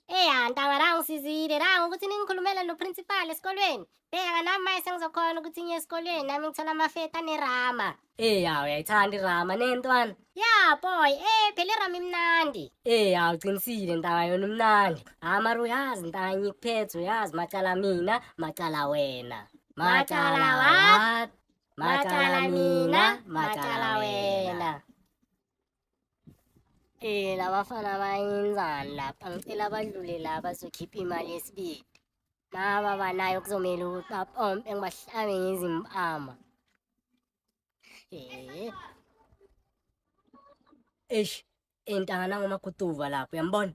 Eya ntakwara ngisizile la ngokuthi ningikhulumele noprincipal esikolweni bheka nami maye sengizokhona ukuthi ngiye esikolweni nami ngithola amafeta nerama eya uyayithanda irama nentwana ya boy eh phela irama imnandi eya uqinisile ntaka yona umnandi hhayi mara uyazi ntaka ngikuphethe uyazi macala mina macala wena Macala what? macala mina macala wena Eh labafana bayenzani lapha ngicela badlule la bazokhipha imali yesibili naba banayo kuzomele ukuthi bapompe ngibahlabe ngezimpama eh eish intanga nangomaguduva lapho uyambona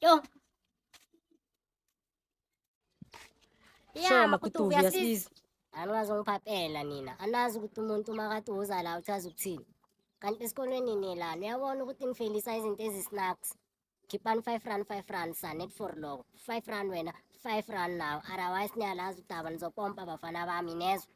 Yo. Shoma kutuvi yasiza. Anazongiphaphela nina. Anazi ukuthi umuntu makathi uza la uchaza ukuthini. Kanti esikolweni nilana uyabona ukuthi nifelisa izinto ezisinaks. Khipani 5 rand 5 rand sa net for loko. 5 rand wena 5 rand nawo. Otherwise niyalazi udaba nizopompa bafana bami nezwe.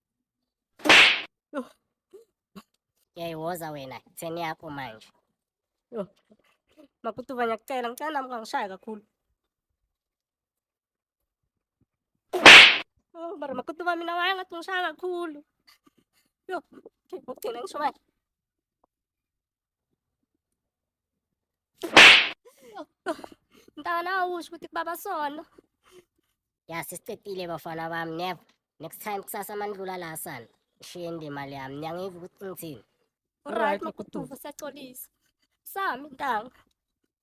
Yayiwoza wena itheni yakho manje. Yo. Makutuva ngiyakucela ngicela nami kangishaye kakhulu. Oh, mara makutuva mina waye ngathi ngishaya kakhulu. Yo, ngigcina ngisho manje. Mntana awusho ukuthi kubaba sono. Ya sisicedile bafana bami never. Next time kusasa mandlula la sana. Shiye indima le yami. Niyangiva ukuthi ngithini. Alright makutuva siyaxolisa. Sami ntanga.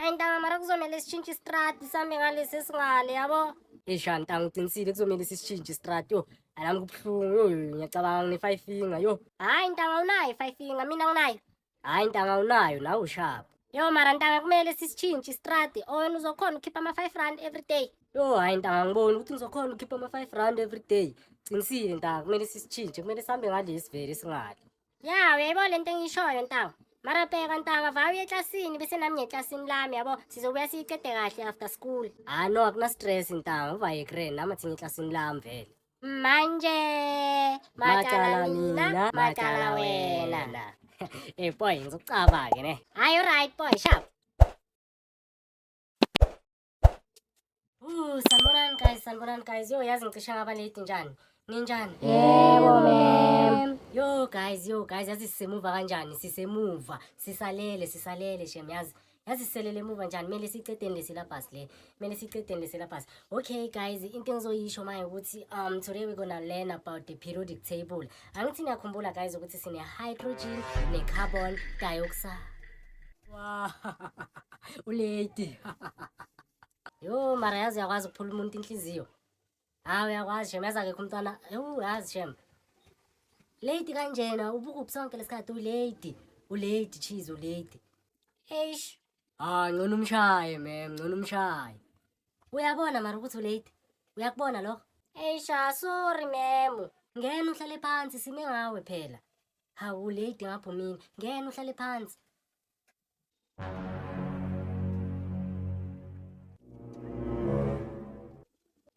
ayi ntanga mara kuzomele sitshintshe istrati sambe ngalesi esingale yabo esha ntanga uqinisile kuzomele sisitshintshe istrati yo anami kubuhlungu yo ngiyacabanga ngine-five finger yo hhayi ntanga unayo i-five finger mina nginayo hhayi ntanga unayo nawe ushapha yo mara ntanga kumele sisitshintshe istrati or wena uzokhona ukhipha ama-five rand every day yo hhayi ntanga ngiboni ukuthi ngizokhona ukhipha ama-five rand every day qinisile ntanga kumele sisitshintshe kumele sihambe ngalesi vele singale Ya, uyayibona lento engiyishoyo ntawo. Mara bheka ntanga vaya uye eklasini bese nami ngeklasini lami yabo sizobuya siyiqede kahle after school. Ah no akuna stress ntawo uvaye ekren nami athi ngeklasini lami vele. Manje macala mina macala wena. Eh boy ngizocaba ke ne. Hayi right boy sharp. Uh, sanibonani guys, sanibonani guys. Yo yazi ngicisha ngaba late njani? Ninjani? Yebo ma'am. Yo guys, yo guys, yazi sisemuva kanjani? Sisemuva, sisalele, sisalele shem yazi. Yazi siselele emuva njani? Mele sicedeni le syllabus le. Mele sicedeni le syllabus. Okay guys, into engizoyisho manje ukuthi um today we're gonna learn about the periodic table. Angithi niyakhumbula guys ukuthi sine hydrogen ne carbon dioxide. Wow. Ulady. Yo mara yazi yakwazi ukuphula umuntu inhliziyo. Hawu yakwazi shem yazi akekho umntwana. Yo yazi shem. Lady kanjena ubuku sonke lesikhathi ulady. Ulady cheese ulady. Eish. Ah, ngcono umshaye mem, ngcono umshaye. Uyabona mara ukuthi ulate. Uyakubona lokho? Eisha, sorry memu. Ngena uhlale phansi sime ngawe phela. Hawu late ngapho mina. Ngena uhlale phansi.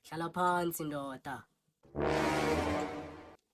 Hlala phansi ndoda.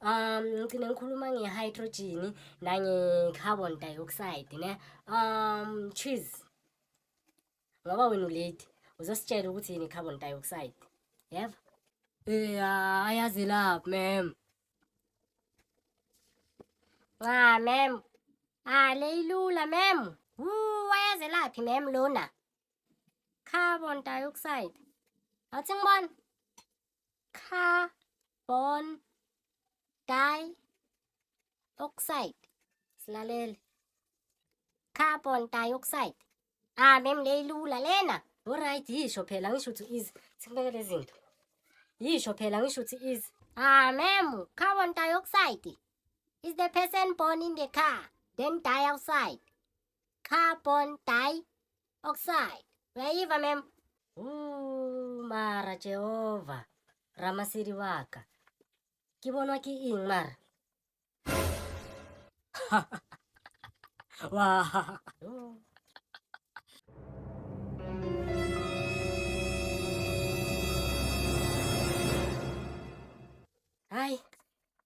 um ngigcine ngikhuluma nge-hydrogen nange-carbon dioxide ne um cheese ngoba wena uledi uzositshela ukuthi yini i-carbon dioxide yeva ya ayazi lapho mem nca mem ale ah, ilula mem wu ayazi laphi mem lona carbon dioxide awuthi ngibona carbon dioxide silalele carbon dioxide ah mem leyilula lena Alright yisho phela ngisho ukuthi is sikubeke lezinto. Yisho phela ngisho ukuthi is. Ah ma'am, carbon dioxide is the person born in the car then die outside. Carbon die Oxide. Uyayiva mem? Ooh, mara Jehova. Ramasiri wa ka. Ke bonwa ke eng mara? Wa. Ooh. Hai,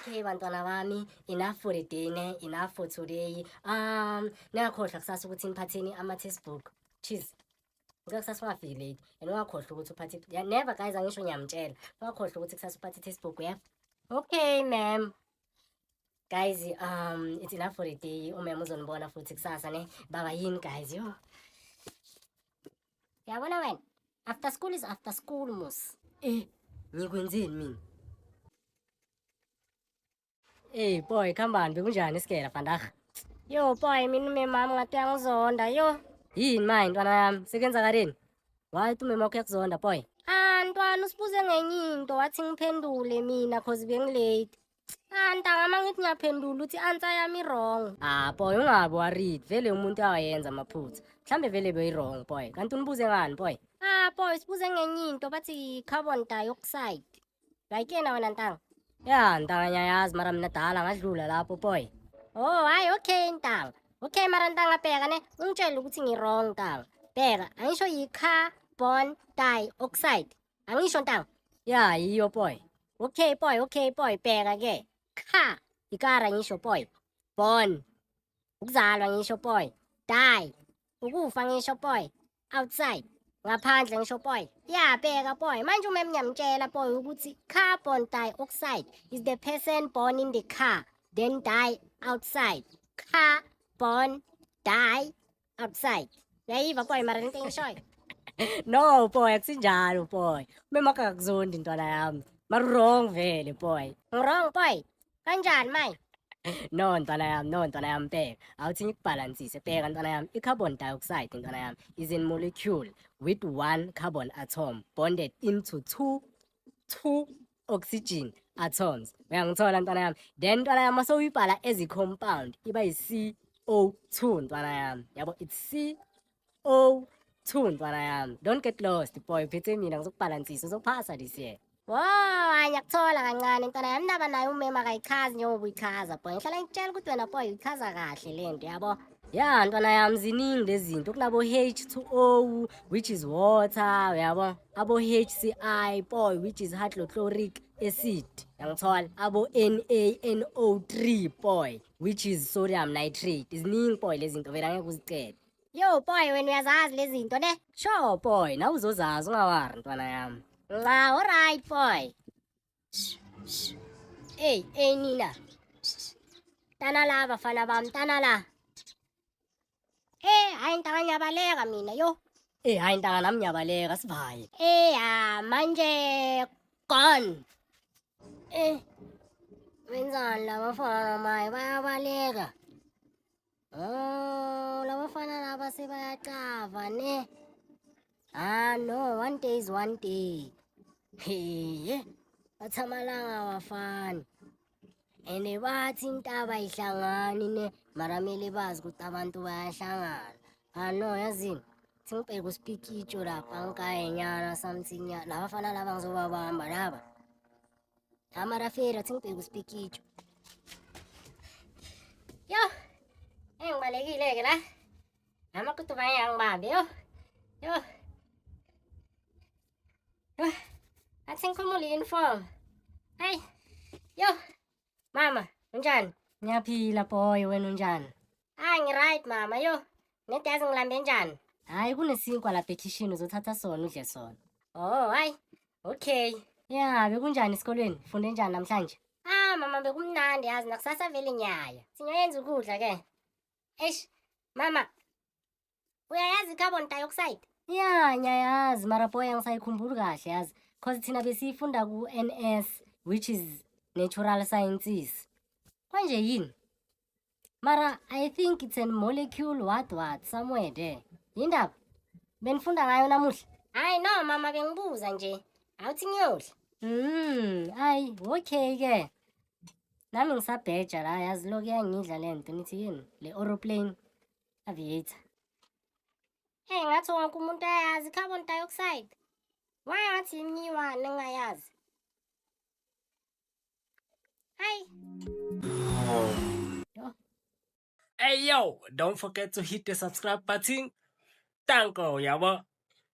okay bantwana bami enough for the day ne enough for today um ningakhohlwa kusasa ukuthi niphatheni ama-textbook cheese ngicela kusasa ungafiki late and ungakhohlwa ukuthi uphathe yeah, never guys angisho ngiyamtshela ungakhohlwa ukuthi kusasa uphathe i-textbook yeah okay ma'am guys um it's enough for the day umem uzonibona futhi kusasa ne baba yini guys yo Uyabona wena? After school is after school mos. Eh, ngikwenzeni mina? Hey boy, khambani bekunjani isikela vandag? Yo boy, mina umemami ngathi uyangizonda. Yo, Yini manje ntwana yami? Sekwenzakaleni? Why uthi umema wakho uyakuzonda boy? ah ntwana usibuze ngenye into wathi ngiphendule mina cause bengilate. Ah, ntanga uma ngithi ngiyaphendula uthi answer yami wrong. Ah, boy ungabi worried. Vele umuntu akayenza amaphutha. Mhlambe vele beyi-wrong boy. Kanti unibuze ngani boy? Ah, boy sibuze ngenye into bathi carbon dioxide. Like yena wena ntanga. Ya, ntanga ngiyayazi mara mina dala ngadlula lapho boy. Oh, hayi okay ntanga. Okay mara ntanga bheka ne ungitshela ukuthi ngi-wrong ntanga. Bheka angisho yi-carbon dioxide. angisho ntango ya yiyo boy okay boy okay boy bheka ke kha ikara ngisho boy born ukuzalwa ngisho boy die ukufa ngisho boy outside ngaphandle ngisho boy yabheka boy manje uma emnyamtshela boy ukuthi carbon dioxide is the person born in the car then die outside car born die Upside. Yayiva boy mara into engishoyo. no boy akusinjalo boy. Umema wakho akakuzondi ntwana yami. Mara wrong vele boy. Wrong boy. Kanjani manje? no ntwana yami no ntwana yami bheka awuthi ngikubhalansise bheka ntwana yami i-carbon dioxide ntwana yami is in molecule with one carbon atom bonded into two two oxygen atoms uyangithola ntwana yami then ntwana yami mase uyibhala as compound iba yi CO2 ntwana yami yabo it's CO2 ntwana yami don't get lost boy phethe mina ngizokubhalansisa uzophasa this year Wow, ayakuthola kancane ntwana yami ndaba naye umema akayichazi njengoba uyichaza boy. Ngihlala ngikutshela ukuthi wena boy uyichaza kahle lento yabo. ya ntwana yami ziningi lezi zinto kunabo H2O which is water uyabo abo HCI boy which is hydrochloric acid yangithola abo NaNO3 boy which is sodium nitrate ziningi boy lezi zinto vele angeke uzicede yo boy wena uyazazi lezi zinto ne sure boy nawe uzozazi ungawari ntwana yami nca alright boy Ey, ey nina. Tana la bafana bam, tana la. Eh, hayi ntaka nyabaleka mina yo. Eh, hayi ntaka nam nyabaleka sivaye. Eh, ha manje gone. Eh. Wenzani la bafana maye bayabaleka. Oh, labafana laba sebayacava ne. Ah no, one day is one day. Heye. Bathamalanga abafana. Ene bathi intaba ihlangani ne maramele bazi ukuthi abantu bayahlangana. Ah no, yazini. Sengibheka uspikitsho lapha ngikayenyana something. Labafana laba ngizobabamba laba. Camera fela singibheke uspikitsho. Yo. Eh ngibalekile ke la. Ama kutu ba yang babe yo. Yo. Yo. Atseng khumula uniform. Hey. Yo. Mama, unjani? Ngiyaphila boy wena unjani? Hayi ngiright mama yo. Nedi yazi ngilambe njani? Hayi kunesinkwa lapha ekhishini uzothatha sona udle sona. Oh hayi. Okay. Ya bekunjani esikolweni? Funde njani namhlanje? Ah mama bekumnandi yazi nakusasa vele nyaya. Singayenza ukudla ke. Eish mama uyayazi i-carbon dioxide ya ngiyayazi mara boy angisayikhumbuli kahle yazi cause thina besiyifunda ku-n s which is natural sciences kwanje yini mara i think it's a molecule what what somewhere there yindaba benifunda ngayo namuhla hayi no mama bengibuza nje awuthi ngiyodla Mm, ayi, okay ke. Nami ngisabheja la yazi loku yangidla lento nithi yini? Le aeroplane. Aviator. Hey, ngathi wonke umuntu ayazi carbon dioxide. Why ngathi imiwani engayazi? Hi. Hey yo, don't forget to hit the subscribe button. Thank you, yabo.